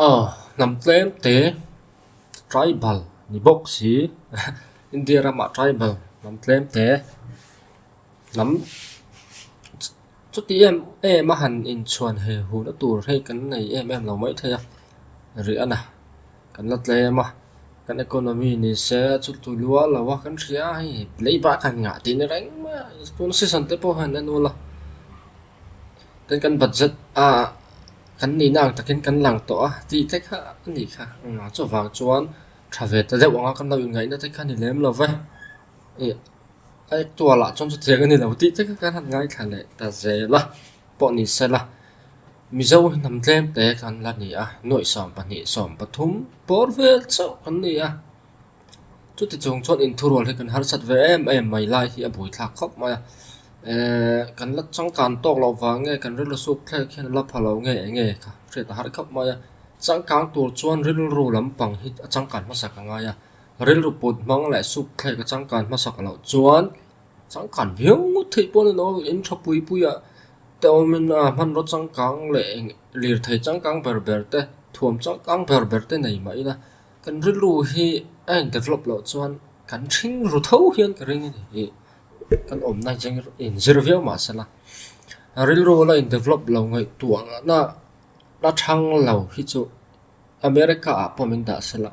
Aw, hnam tlem te, tribal, ni bawk si. India ram ah tribal hnam tlem te, hnam chuti em em a han in chhuan he hun a tur hi kan nei em em lo maithei a, rih a na. Kan la tlem a, kan economy ni se chu tui lual lo a, kan hria hei, leiba kan ngah tih ni reng mai a, tun season te pawh hian en ula. Kan kan bat zet a, kan nihna ang takin kan lang tawh a ti te kha a ni kha. Engmah chuvang chuan tha ve ta deuh anga kan lo inngaihna te kha a ni lem lo va. I a actual-ah chuan chutiang a ni lo tih te kha kan han ngaithla leh ta zel a pawh ni se la. Mizo hi hnam tlem te kan la ni a, nuaihsawm pahnih sawm pathum bawr vel chauh kan ni a. chuti chung chuan in thurual hi kan harsat ve em em mai lai hi a bui thlak khawp mai a ehh kan la changkan tawk loh vange kan rilru suk thlek hian a la pha lo ngei eng nge kha hriat a harh khawp mai a changkang tur chuan rilru lampang hi a changkan hmasak a ngai a rilru put hmang leh suk thlek a changkan hmasak loh chuan changkan viau ngawt theih pawh a ni lo in tha pui pui ah te awm in a hmanraw changkang leh eng lirthei changkang ber ber te thuam changkang ber ber te nei mah ila-- Kan rilru hi a in develop loh chuan kan hring ru tho hian ka ring a nih hi kan awmna hi a in zir viau mah se la rilru la in develop lo ngaihtuahna a thang lo hi chu America ah pawh min dah se la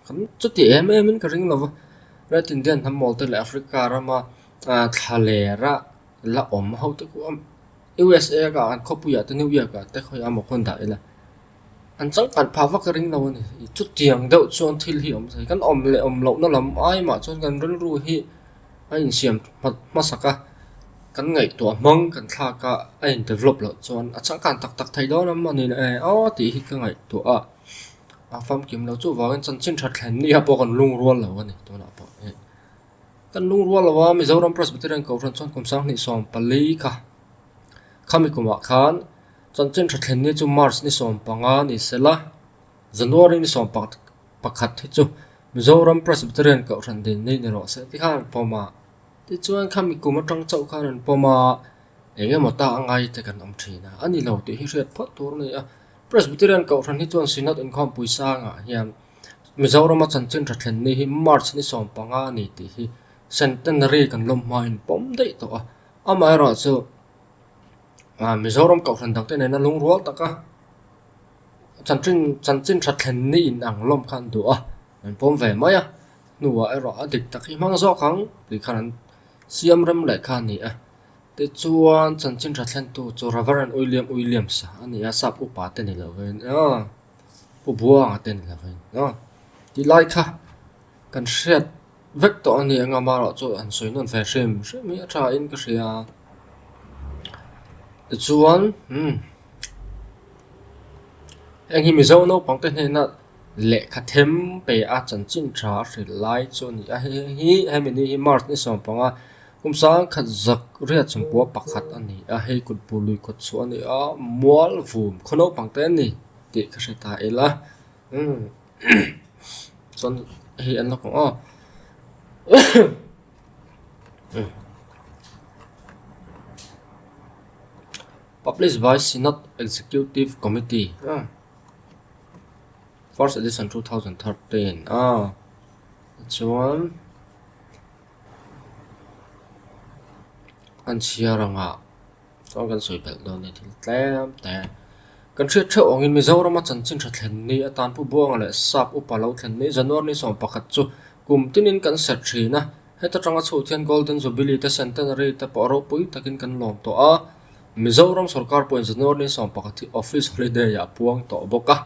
kan chuti em em in ka ring lo va Ret Indian hnammaw te leh Africa rama ah thla lera la awm ho te kuh a usa kha an khawpui ah te New York ah te khawiha a mawh khawn dah ila. An changkhat pha vak ring lo a ni. Chutiang deuh chuan thil hi awm thei. Kan awm leh awm lohna lam ai mah chuan kan rilru hi a insiam hmasak a, kan ngaihtuah hmang kan thlak a a indevelop loh chuan a changkhan tak tak thei dawn lam a ni e aw tih hi ka ngaihtuah a. A famkim lo chuvangin chanchin that thlen ni ah pawh kan lungrual lo a ni tunah pawh hi. Kan lungrual lo a Mizoram Presbyterian Kohhran chuan kum sanghnih sawm pali kha khami kumah khan, Chanchin tha thlen ni chu March ni sawm panga ni se la, January ni sawm pakhat pakhat hi chu Mizoram Presbyterian Kohhran din ni ni rawh seh te khan an pawm a, tichuan kha mikum atang chauh khan an pawm a, eng emaw ta a ngai te kan awm thin a, a ni lo tih hi hriat phawt tur a ni a, Presbyterian Kohhran hi chuan Synod inkhawmpui sangah hian Mizorama chanchin tha thlen ni hi March ni sawm panga a ni tih hi Centenary kan lawmhma in pawm daih tawh a, amaherawhchu, Mizoram Kohhran dangte nena lungrual taka chanchin that thlen ni in ang lawm kha an duh a, an pawm ve mai a, hnuah erawh a dik tak hi hmang zawk ang tih khan an siam rem leh kha a ni a. Tichuan chanchin that thlentu chu Rev. Uilliam Uilliams a ni a, Sap upa te ni loh vangin aw, Pu Buanga te ni loh vangin aw, tilai kha kan hriat. vek tawh a ni eng ama erawh chu an sawi nawn ve hrim hrim hi a tha in ka hria tichuan umm heng hi mizo naupang te hnena lehkha them pe a chanchin tha a hrilh lai chu a ni a hei hei hi he mihni hi march ni sawm panga kum sangkhat zak riat sawmpua pakhat a ni a hei kut pu lui kawt chu a ni a mual vum khaw naupang te a ni tih ka hre ta ila umm. chuan hei an la kawng a publish by synod executive committee ah first edition two thousand thirteen ah chuan an chhiar ang a. Chuan kan sawi belh dawn nia thil tlem te. Kan hriat theuh angin Mizorama chanchin tha thlen ni atan pu buanga leh sap upa lo thlen ni January ni sawm pakhat chu kum tinin kan serh thin a. Heta tanga chhuat hian Golden Jubilee te Centenary te pawh ropui takin kan lawm tawh a. Mizoram sawrkar pawhin January ni sawm pakhat hi office holiday a puang tawh bawk a.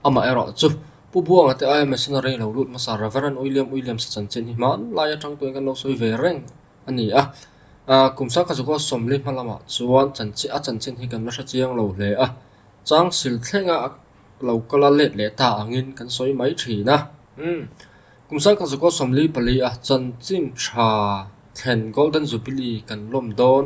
Amah erawh chu, pu buanga te aia missionary lo lut hmasa Reverend William Williams-a chanchin hi hmanlai atang tuin kan lo sawi ve reng. A ni a, aa, kum Sangkhazuka sawmli hma lamah chuan chanchin, a chanchin hi kan la hre chiang lo hle a, chang sil thlenga a lo kal a, let leh ta angin kan sawi mai thin a, umm, kum Sangkhazuka sawmli pali a chanchin tha thlen Golden Jubilee kan lawm dawn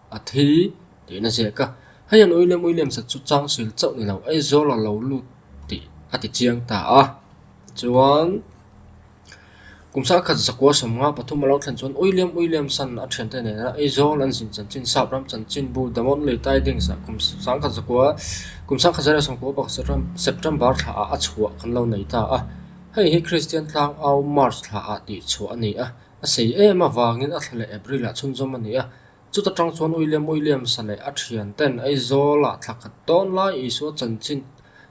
A thil tih na ziah ka. Hei an uilem uilem sa chu chang sil chauh ni lo, Aizawl a lo lut tih a ti chiang ta a. Chuan kum sang khat zakua sawmnga pathum a lo thlen chuan uilem uilem san a thian te nena Aizawl an zin chanchin sap ram chanchin bu Damawt lei tai ding sa kum sang khat zakua kum sang khat zah leh sawmkua pakhat September thla ah a chhuah kan lo nei ta a. Hei hi Kristian tlang au March thla ah tih chhuah a ni a. A sei em avangin a thla leh April ah chhunzawm a ni a. Chuta tang chuan uilem uilem sa leh a thian ten Aizawl ah thla khat dawn lai Isua chanchin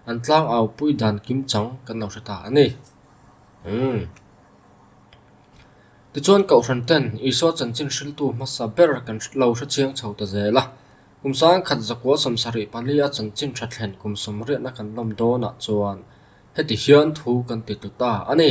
an tlang au pui dan kim chang kan lo hre ta a ni. Umm. Tichuan Kohhran ten Isua chanchin hriltu hmasa ber kan lo hre chiang chho ta zel a. Kum sang khat Zakua samsarih pali a chanchin tha thlen kum sawmriatna kan lawm dawn ah chuan heti hian thu kan ti tlu ta a ni.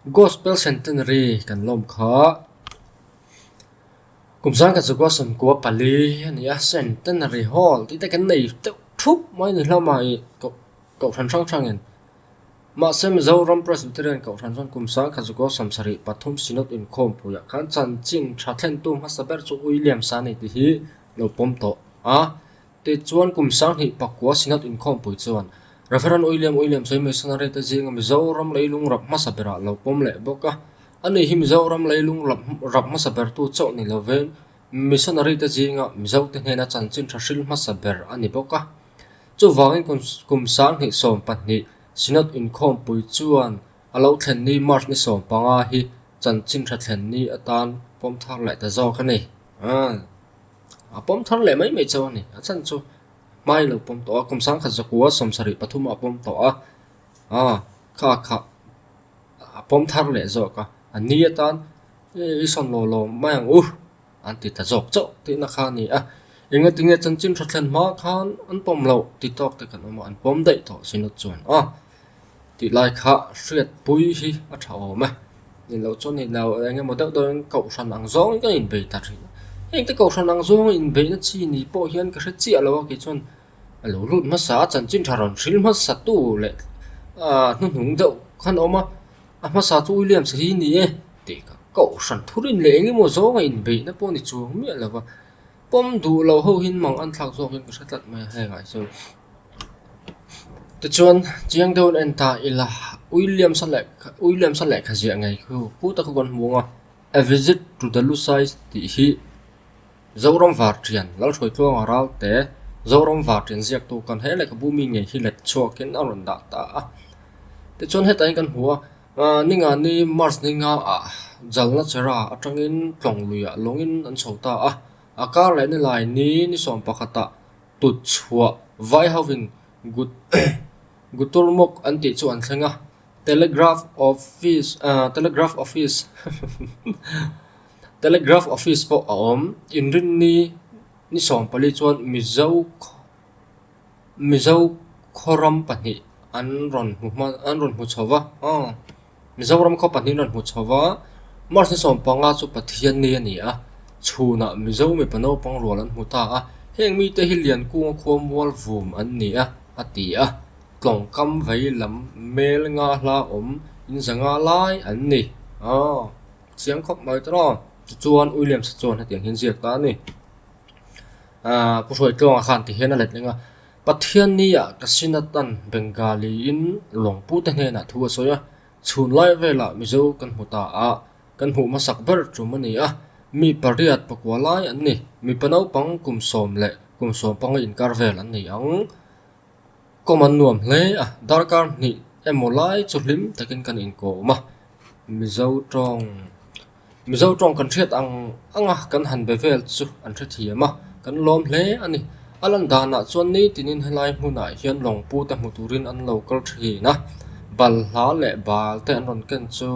Gospel Centenary kan lawm kha kum zang kha chu Gospel kua pali a ni a Centenary Hall tih te kan nei deuh thup mai a ni hlauh a mah ih Kohhran hrang hrang in mahse Mizoram Presbyterian Kohhran chuan kum zang kha chu Gospel sarih pathum Synod inkhawm puiah khan chanchin tha thlentu hmasa ber chu William Sahni tih hi lo pawm tawh a. Tei chuan kum sanghnih pakua Synod inkhawmpui chuan Reverend Uiliam Uiliam Sawi Missionary te zinga Mizoram lei lungrap hmasa berah lo pawm leh bawk a, a nih hi Mizoram lei lungrap hmasa bertu chauh ni lovin Missionary te zinga Mizote hnena chanchin tha hril hmasa ber a ni bawk a. Chuvangin kum sanghnih sawm pahnih Synod inkhawmpui chuan a lo thlen ni March ni sawm panga hi chanchin tha thlen ni atan pawm thar leh ta zawk a ni. A pawm thar leh mai mai chauh a ni. A chhan chu hmai lo pawm tawh a, kum sangkhat zakua sawm sarih pathum a pawm tawh a, aaa kha a khah a pawm thar leh zawk a, a ni atan i sawn law law mai ang u an ti ta zawk chauh tihna kha a ni a, enge ti nge chanchin hrathlen hma khan an pawm loh ti tawk te kan awm a, an pawm daih tawh si nut chuan aw. tih lai kha hriatpui hi a tha awm e, ninloh chuan nilo eng emaw deuh deuhin kohhran ang zawng hian ka inbei ta thin a, heng te kohhran ang zawng a inbeihna chi ni pawh hian ka hre chiah lo a kei chuan a lo lut hmasa a chanchin tha rawn hrilh hmasa tu leh ah hnuhnung deuh khan a awm a, a hmasa chu uiliamsa hi ni e tih ka kohhran thurin leh eng emaw zawng a inbeihna pawh a ni chuang miah lo va, pawm duh loh ho hi an mang anthlak zawk hian ka hre tlat mai a hengah chuan. Tichuan, chiang deuh an en ta ila uiliamsa leh uiliamsa lehkha ziah ngei chu pu taka kan hmu ang a, A visit to the Lusais tih hi Zoram Vartian, Lalhruai tluanga ralte Zoram Vartian ziaktu kan he lehkha bu mi ngei hi let chhuakin a rawn dah ta a. Tichuan hetah hian kan hmu a aaa ni nga ni March ni nga ah Jalna chera atangin tlawng luiah lawngin an chho ta a, a kar leh ni lai ni ni sawm pakhatah, Tut chhuah vai hovin Gut Guturmuk an tih chu an thleng a, Telegraph Office ah Telegraph Office Telegraph Office pawh a awm. Inrinni ni sawm pali chuan Mizo Mizo khaw ram pahnih an rawn hmu hma an rawn hmu chho va. Mizoram khaw pahnih rawn hmu chho va, March ni sawm panga chu Pathian ni a ni a, chhunah Mizo mipa naupang rual an hmu ta a, heng mite hi lian kunga khua mual vum an ni a, a ti a. Tlawngkam vei lam mel nga hla awm in za nga lai an ni. Aw, chiang khawp mai tawh aw. Tichuan Uiliam Sachuan hetiang hi an ziak ta a ni. Pu Hruai Tlawnga khan tihian a let leng a. Pathian nia ka sin a tan Bengali in Lawngpu te hnena thu a sawi a, chhun lai vela Mizo kan hmu ta a, kan hmuh hmasak ber tum a ni a, mi pariat pakua lai an ni, mipa naupang kum sawm leh kum sawm panga inkar vel an ni ang, kawm an nuam hle a, darkar hnih emaw lai chu hlim takin kan inkawm a, Mizo tawng. Mizo tawng kan hriat ang anga kan han be vel chu an hre thiam a, kan lawm hle a ni. A lan danah chuan nitinin helai hmunah hian lawngpute hmu turin an lo kal thin a, balhla leh balte an rawn ken chu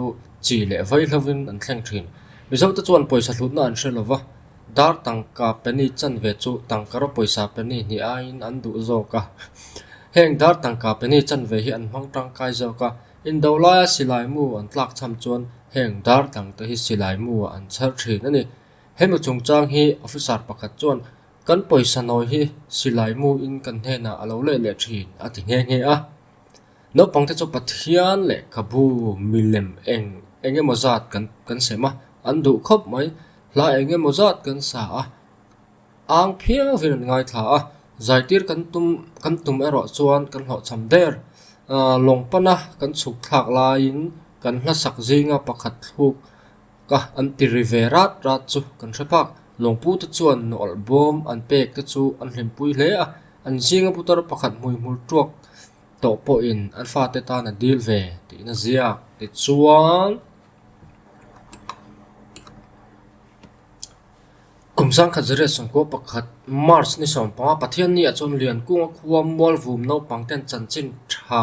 chi leh vai hlauhin an thleng thin. Mizote chuan pawisa hlutna an hre lova, dar tangka penny chan ve chu tangkara pawisa penny hnih aiin an duh zawk a. Heng dar tangka penny chan ve hi an hmang tangkai zawk a. Indo laia silai mu an tlak chham chuan heng dartlang te hi silai mu ah an chher thin a ni. Hemi chungchang hi officer pakhat chuan kan pawisa nawi hi silai mu in kan hnenah a lo leh leh thin a ti nghe nghe a. Naupang te chu Pathian leh ka bu, milem eng eng emaw zat kan kan sem a, an duh khawp mai. Hla eng emaw zat kan sa a. Âng phiang zin an ngaithla a, zaitîr kan tum kan tum erawh chuan kan hlawhchham der. Lawng pana kan chhuk thlâk laiin kan hlasak zînga pakhat hlûk ka an ti ri ve rât rât chu kan hre phâk. Lawngpute chuan nawlh bâwm an pêk te chu an hlimpui hle a, an zînga putar pakhat hmuihmul ṭuak tawh pawhin an fate tân a dîl ve tihna ziak. Tichuan. Kum sangkhat zariat sawmkua pakhat, March ni sawm panga Pathian ni ah chuan lian kunga khua mual vum naupang ten chanchin tha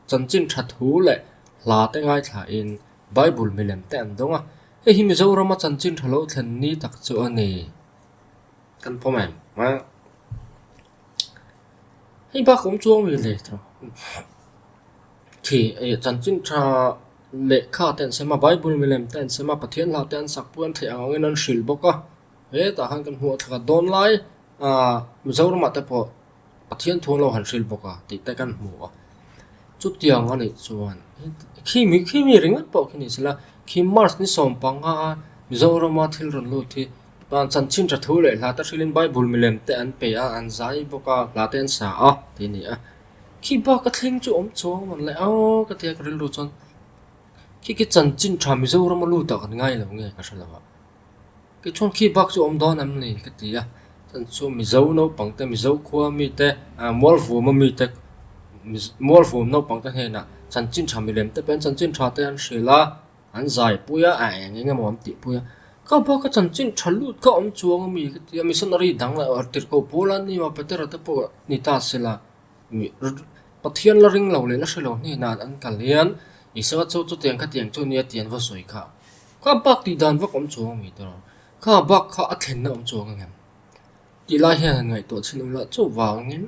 chanchin tha thu leh hla te ngaithla in Bible milem te an dawng a. Hei hi Mizoram a chanchin tha lo thlen ni tak chu a ni. Kan pawm em? Hei bakawm chuang mi hle tha. Khi eh chanchin tha lehkha te an sema bible milem te an sema Pathian hlauh te an sak pawh an theih ang angin an hrilh bawk a. Hetah khan kan hmuh a thla dawn lai ah Mizoramah te pawh Pathian thu an lo han hrilh bawk a tih te kan hmu a. Chutiang a nih chuan khi mi khi mi ringawt pawh khi nih sela khi March ni sawm panga Mizorama thil rawn lut hi Chuan chanchin ṭha thu leh hlata hrilhin Bible milem te an pe a, an zai bawk a, hlate an sa a, tih a ni a. Khi baka thleng chu awm chu awm an la a ka ti a ka rilru chuan khi khi chanchin ṭha Mizorama lu tak an ngai lo nge ka hre lo a. Tichuan khi bak chu awm dawn em ni ka ti a, chuan chu Mizo naupang te Mizo khua mi te ah Mualvuma mi te Mualvum naupang te hnenah chanchin ṭha milem te pawhin chanchin ṭha te an hrilh a, An zaipui a, a eng engemaw an tihpui a, ka bak a chanchin tha lut kha awm chuang ami ka ti a, missionary dang la tirhkoh pawl an nia Petera te pawh ni ta se la Pathian la ring lo leh la hre lo hnenah an kal hian Isua chu chutiang ang khatiang chu nia ti an va sawi kha ka bak tih dan vak awm chuang ami te rawh ka bak kha a thlenna awm chuang ang em tih lai hian han ngaihtuah chhin um la chuvangin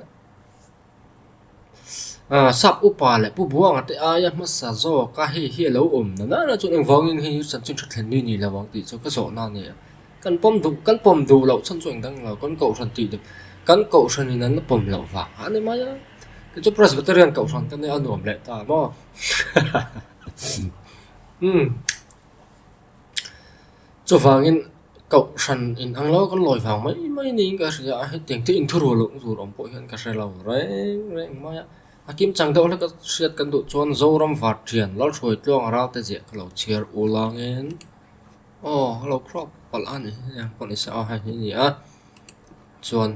Aaa sap upa leh pu buanga te aia hmasa zawka hei hi a lo awm na nana chuan eng vangin hei hi chan chu thathlen ni ni lo ang tih chu ka zawhna a ni a, kan pawm duh kan pawm duh loh chhan chu eng dang lo kan kohhran tih duh kan kohhran in an la pawm loh vang a ni mai a, kei chu presbyterian kohhran te nen a nuam leh ta maw hahaha umm. Chuvangin Kohhran in ang lo kan lawi vang mai mai niin ka hria a, hetiang thil inthuro loh tur awm pawh hian ka hre lo reng reng mai a. A kim chang deuh hle ka hriat kan duh chuan Zoram Vathian, Lalhruai Tluang a rau te ziah ka lo chhiar u lawngin aw ka lo khrok palh a ni hei ang pawh ni sa a hei hi a ni a. Chuan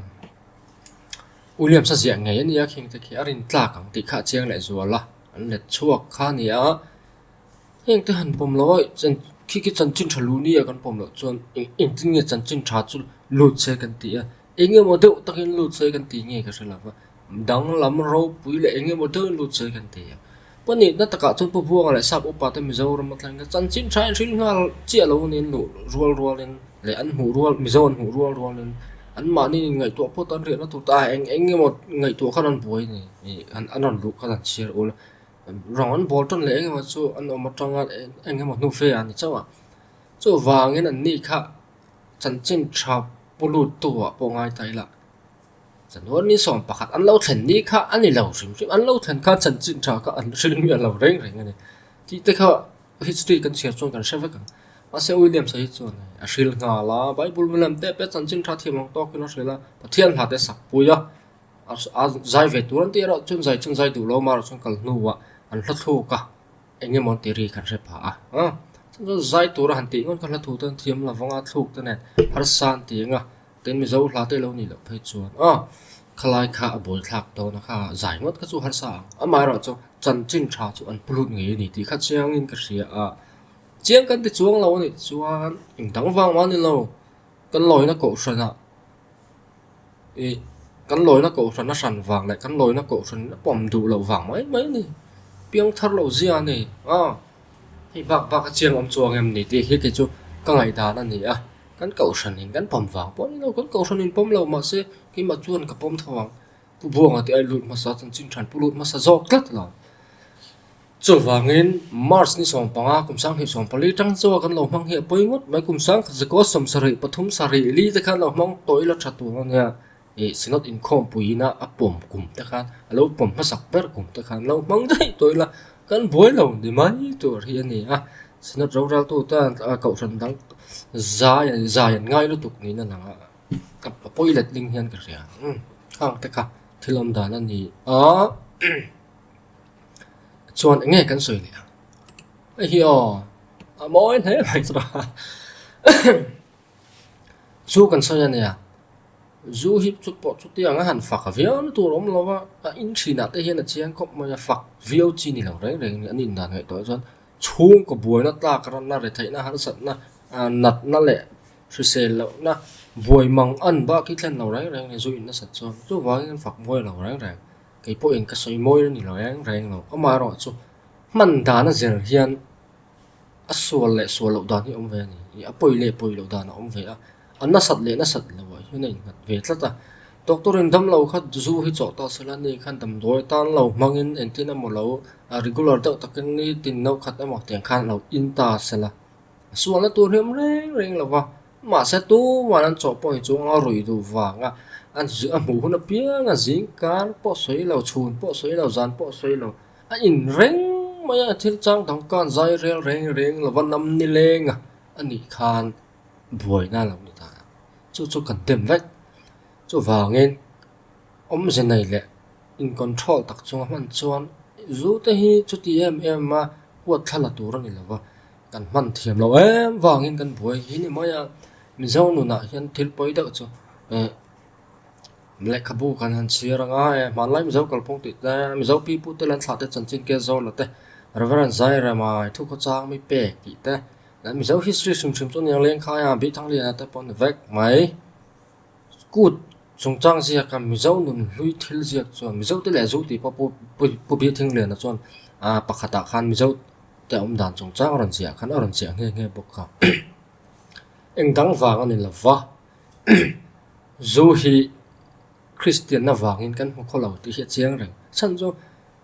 Williams-a ziah ngei a nia kheng te khi a rin tlak ang tih kha a chiang leh zual a, an let chhuak kha a ni a. Heng te han pawm lo a, chan khi khi chanchin tha luh nia kan pawm loh chuan eng engtin nge chanchin tha chu lut se kan tih a, eng emaw deuh takin lut se kan tih nge ka hre lo va, danglam ropui leh eng emaw deuhin lut se kan ti a. Paw nihna takah chuan paw Buanga leh Sap upa te Mizoram atlang hian chanchin tha in hril nghal chiah lo nen luh rual rual in leh an hmuh rual Mizo an hmuh rual rual in an mahniin ingaihtuah pawt an riah na tur te ah eng eng emaw ngaihtuah khan an buai a ni, an rawn luh khan an chhiar ul a. rang an bawl tan leh engemaw chu an awm atanga engemaw hnu fe an ni chauh a chuvangin an ni kha chanchin tha pu lut tu ah pawh ngai ta ila chanuarni sawm pakhat an lo thlen ni kha a ni lo hrim hrim an lo thlen kha chanchin tha kha an hrilh miah lo reng reng a ni tih te kha history kan chhiar chuan kan hre vek ang mahse williamsa hi chuan hei a hril nghal a bible milam te pawh chanchin tha thiam ang tawkin a hrilh a pathian hnate sak pui a. A zai ve tur an ti erawh chun zai chun zai duh lo amarawh chuan kal hnuah an hlathluk a eng emaw ti ri kan hre phah a a chhung zawk zai tur a han tih ngawt kha hlathluk te thiam lo avanga thluk te nen harsa an ti ang a tin mizo hla te lo nih loh phei chuan a khalai kha a bawl thlak dawna kha zai ngawt kha chu harsa ang amaherawh chu chanchin tha chu an pu lut ngei a ni tih kha chiangin ka hria a chiang kan ti chuang lo a nih chuan in dang vang mah nilo kan lawina kohhranah. ih kan lawina kohhrana hran vang leh kan lawina kohhrana pawm duh loh vang mai mai a ni, piang thar loh zia a ni a, hei bak bak a chiang awm chuang em ni tih hi kei chu ka ngaihdan a ni a, kan kohhran in kan pawm vang pawimlo, kan kohhran in pawm lo mah se keimah chuan ka pawm tho ang. Pu Buanga tih a inlut hmasa chuan chin ṭhan pu lut hmasa zawk tlat lo. Chuvangin March ni sawm panga kum sanghnih sawm pali ṭang chuan kan lo hmang hi a pawi ngawt mai. Kum sangkhat zakawl sawm sarih pathum sarih li te khan a lo hmang tawih la ṭha tur a nia. Ih Synod inkhawm puiina a pawm kum te khan a lo pawm hmasak ber kum te khan lo hmang daih tawh ila kan buai lo ni mai tur hi a ni a. Synod roraltu tan a kohhran dang zai zai an ngai lutuk niin a lang a. Ka pa pawi let ding hian ka hria. Hmm, khang te kha thil awm dan a ni a. Chuan eng nge kan sawi leh a? Hei hi aw, a mawi hle mai chu a. Chu kan sawi a nia, zu hi chu pawh chutiang a han fak viau na tur a awm lo a, a in thinah te hian a chiang khawp mai a, fak viau chi ni lo reng reng a ni. An indan ngaih tawh ah chuan chhungkaw buaina tlak ran na, retheihna harsatna, natna leh. Hrisel loh na, buai mang an bah khi thlen lo reng reng le zu in nasat chuan chu vang in fak buai lo reng reng, kei pawh in ka sawi mawi reng lo reng reng lo, amah erawh chu hman dan a zel hian a sual leh sual loh dan hi awm ve a ni, ih a pawi leh pawi loh dan a awm ve a, a nasat leh nasat loh ah hian a in nghat ve tlat a, doctor in dam lo kha zu hi chawh ta sela ni kha dam duai tan lo hmang in engtin emaw lo, a regular deuh tak in nitin naukkhat emaw tiang khan a lo in ta sela. a sual na tur hi a awm reng reng lo va, mahse tuman an chaw pawh hi chu anga ruih duh vanga an a hmuh hun apianga zing kar pawh sawi lo chhun pawh sawi lo zan pawh sawi lo a in reng mai a thil chang dang khan zai rel reng reng lo va nam ni lenga a nih khan buaina lo ni ta chu chu kan dem vek chuvangin awmze nei leh in control tak chunga hman chuan zute hi chuti em em a huat thla la tur a ni lo va. Kan hman thiam lo em vangin kan buai hi ni mai a, Mizo nunah hian thil pawi deuh chu eh lehkhabu kan han chhiar anga eh hmanlai Mizo kalpawng tih te, Mizo pi pu te leh an thlah te Chanchinkia Zawla te, Rev. Zai Remai, Thukhawchang mi pek tih te leh Mizo history hrimhrim chu niang leng khai a, Bithang Liana te pawh ni vek mai. Kut chungchang ziaka Mizo nun hlui thil ziak chuan Mizo te leh Zuti pawh pu pu pu Biathing Liana chuan aa pakhatah khan Mizo te awm dan chungchang a rawn ziah khan a rawn ziah nghe nghe bawk a. Eng dang vang a ni lo va Zu hi Kristianna vangin kan hmu khaw lo tih hi a chiang reng. Chhan chu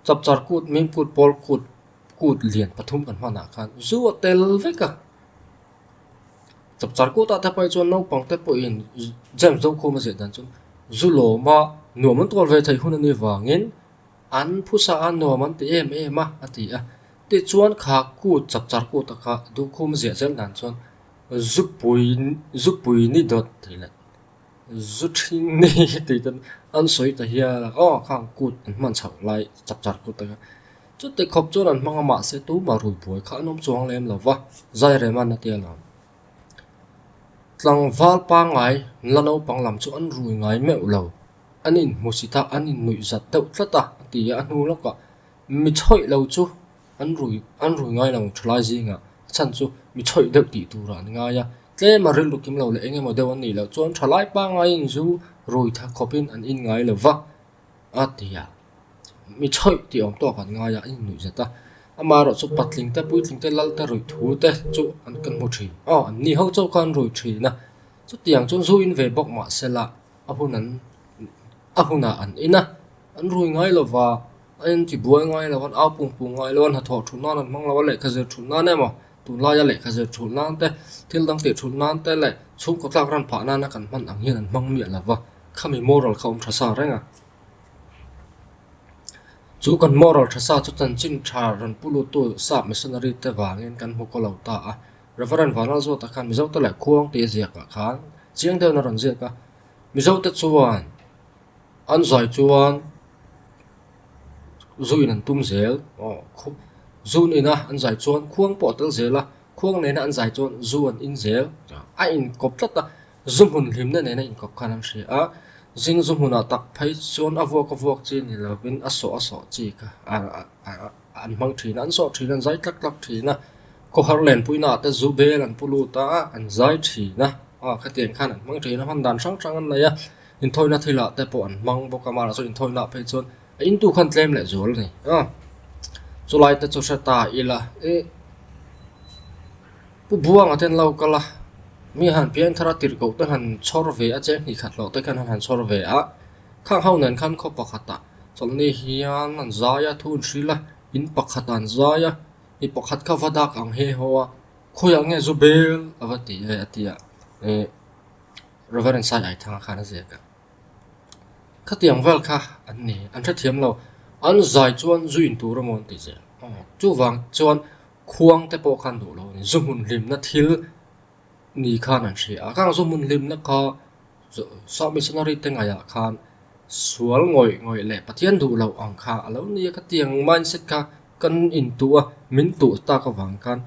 Chapchar kut, Mim kut, Pawl kut, kut lian pathum kan hmanah khan Zu a tel vek a. Chawp char kut a te pai chuan naupang te pawh in James do khawm a zeh dan chuan zu lawm a nuam an tuar ve thei hun ani vangin an phusa a nuam an ti em em a a ti a. Ti chuan kha kut chap char kut a kha duh khum zia zel dan chuan zu pui zu pui ni dawt thei let Zu thin ni tih chuan an sawi ta hial a, aw kha an kut an hman chhoh lai chak char kut a ka chu ti khawp chuan an hmang a mah se tumah rui buai kha an awm chuang lem lo va, Zairem an a tia lo. Tlangval pangngai la naupang lam chu an rui ngai meuh lo, an inhmusit a, an innuih zat deuh tlat a, a ti a, a hnu lawkah mi chhoih lo chu An rui, an rui ngai lo thalai zingah a chhan chu mi chawih deuh tih turah an ngai a, tlema rilru kim lo leh eng emaw deuh an nih loh chuan thalai pangaiin zu rui tha khawpin an inngai lo va, a ti a. Mi chawih tih awm tawk an ngai a, an innuih zet a. Amaherawh chu patling te, puitling te, lal te, ruih thu te chu an kan hmu thin. Aw, an ni ho chauh kha an rui thin a. Chutiang chuan zu in ve bawk mahsela a hun an, a hunah an in a, an rui ngai lo va. A inti buai ngai lo, an au pung pung ngai lo, an hnathawh thuh nan an hmang lo, a lehkha zir thuh nan emaw tunlaia lehkha zir thuh nan te, thil dang teh thuh nan te leh chhungkaw tlak ran phah nana kan hman ang hian an hmang miah lo va, khami moral kha awm tha sa reng a. Chu kan moral tha sa chu chanchin tha ran pu lutu sap missionary te vangin kan hmu ko lo ta a. Rev. Van Lalzawta khan Mizote leh Khuang te ziakah khan chiang deuhna rawn ziak a, Mizote chuan, An zai chuan zu in an tum zel. Zu in a an zai chuan khuang pawh a tel zel a, khuang nena an zai chuan zu an in zel. A in kawp tlat a, zu hmun hlimna nena in kawp khan an hria a, zing zu hmunah tak phei chuan a vuak a vuak chi ni lovin a sawh a sawh chi kha a. an hmang thin a, an zawh thin a, an zai tlak tlak thin a, khawhar len puina ah te zu bel an pu lut a, an zai thin a, a khatiang khan an hmang thin a, hman dan hrang hrang an nei a, inthawina thil ah te pawh an hmang bawk a, mahla sawn inthawina ah phei chuan a intu khan tlem leh zual a ni a, chulai te chu hre ta ila e pu Buanga ten lo kal a, mi han Pianthara tirhkoh te han chhawr ve a, che hnih khat hlawh te khan han chhawr ve a, khang ho nen khan khaw pakhat ah Chawlhni hian an zai a, thu an hrilh a, in pakhat an zai a, i pakhat kha va dak ang he haw a, khawiah nge zu bel a va ti e a tia eh Reverend Sai Ai Thanga khan a ziak a. Khatiang vel kha an ni, an hrethiam lo, an zai chuan zu in tur emaw an tih zel. Chuvang chuan khuangte pawh khan duh lo a ni, zu hmun hlimna thil. Ni khan an hria a, kang zawng hun hlimna kha South Missionary te ngaihah khan sual ngawih ngawih leh Pathian duh loh ang kha a lo ni a, ka tiang mindset kha kan intuh a, min tuh tak avang khan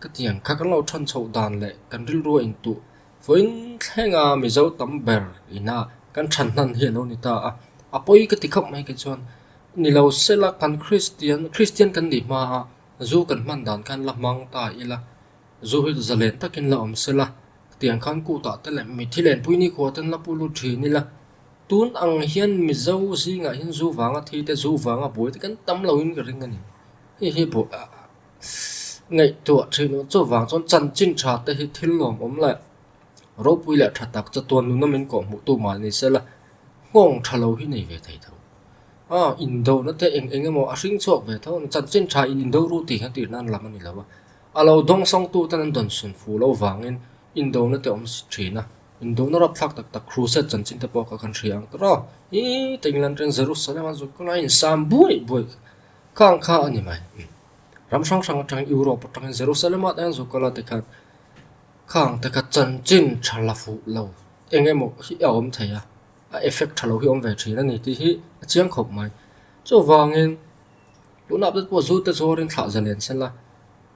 ka tiang kha kan lo than chhoh dan leh kan rilrua intuh fawiin thlenga Mizo tam ber ina kan than hnan hi a lo ni ta a. A pawi ka ti khauh mai khi chuan ni lo sela kan Kristian, Kristian kan nih hma a zu kan hman dan khan la hmang ta ila. Zul za len takin la awm sela, tiang khan kutah te leh mithi len puini khua ten la pu lut thin ila. Tun ang hian Mizo zingah hian zu vanga thi te, zu vanga buai te kan tam lo in ka ring a ni. Hei hi buai ah ngaihtuah thin awh chuvang chuan chanchin tha te hi thil lawm awm leh ropui leh tha tak chatuan nuna min kawh hmuh tu mal ni sela, nghawng tha lo hi nei ve thei tho. Aw indona te eng eng emaw a hring chhuak ve tho a ni, chanchin tha in indo ru tih hian tirnan lam a ni lo a. A lo dawng sawng tu ten an dawn sun fuh lo vangin indona te awm thin a, indona rawp thlak tak tak crusade chanchin te pawh ka kan hria ang ta râw, hi ta England-ren Jerusalem a zuk kawlaiin insam buai buai kha ang kha a ni mai, ram hrang hrang atangin Europe atangin Jerusalem ah te an zuk kal a tikhan kha ang te kha chanchin tha la fuh lo eng emaw hi a awm thei a, a effect tha lo hi awm ve thin a ni tih hi a chiang khawp mai, chuvangin Tunah update pawh zu te chu a ringthlah zalen se la,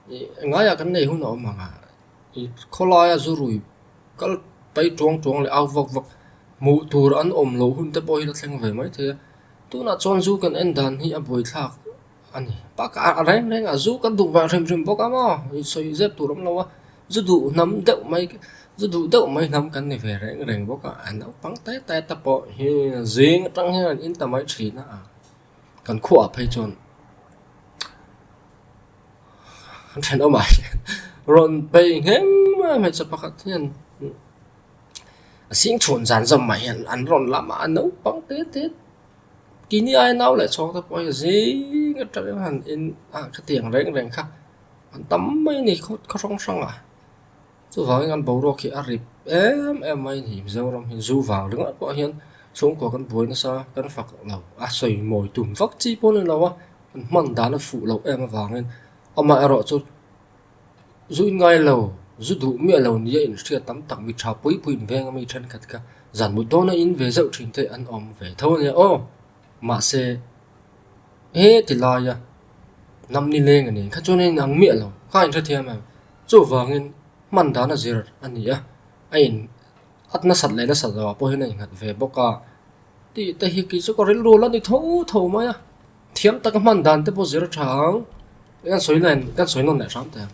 i ngaia kan nei hun a awm ang a, i khawlaia zu rui kal pai tuang tuang leh au vak vak hmuh tur an awm loh hun te pawh hi ka thleng ve mai thei a, tunah chuan zu kan en dan hi a buai thlak a ni, bakah a reng reng a zu kan duh hrim hrim bawk a maw, i sawi zep tur awm lo a, zu duh hnam deuh mai zu duh deuh mai hnam kan ni ve reng reng bawk a, naupang te te te pawh hi zing atang hian an inta mai thin a, Kan khuaah phei chuan kan then awmah hian rawn pei nghem a hmeichhe pakhat hian a sing chhun zan zawm mah hian an rawn lam a naupang te te kini aia nau leh chhawng te pawh hian zing a tah hian in a khatiang reng reng kha an tam mai a ni khaw hrang hrangah. Chuvangin an boruak hi a rip em em mai ni. Mizoram hi zu vang ringah pawh hian chhungkua kan buai nasa kan fak lo a sawi mawi tum vak chi pawh ni lo a kan hman dan a fuh loh em avangin amah erawh chu zu in ngai lo zu duh miah lo nia inhriat tam tak mi tha pui pui inveng a mi thenkhat kha zan mut dawn a in ve zeuh thin te an awm ve tho a nia aw mahse he ti laia hnam ni leng a nen kha chuan a inang miah lo kha inhrethiam em. Chuvangin, hman dana zir a ni a, a in at nasat leh nasat lo ah pawh hian a inghat ve bawk a, tih te hi khi chu ka rilru la ni tho tho mai a, thiam taka hman dan te pawh zir tha ang, kan sawi kan sawi nawn leh hram thei ang.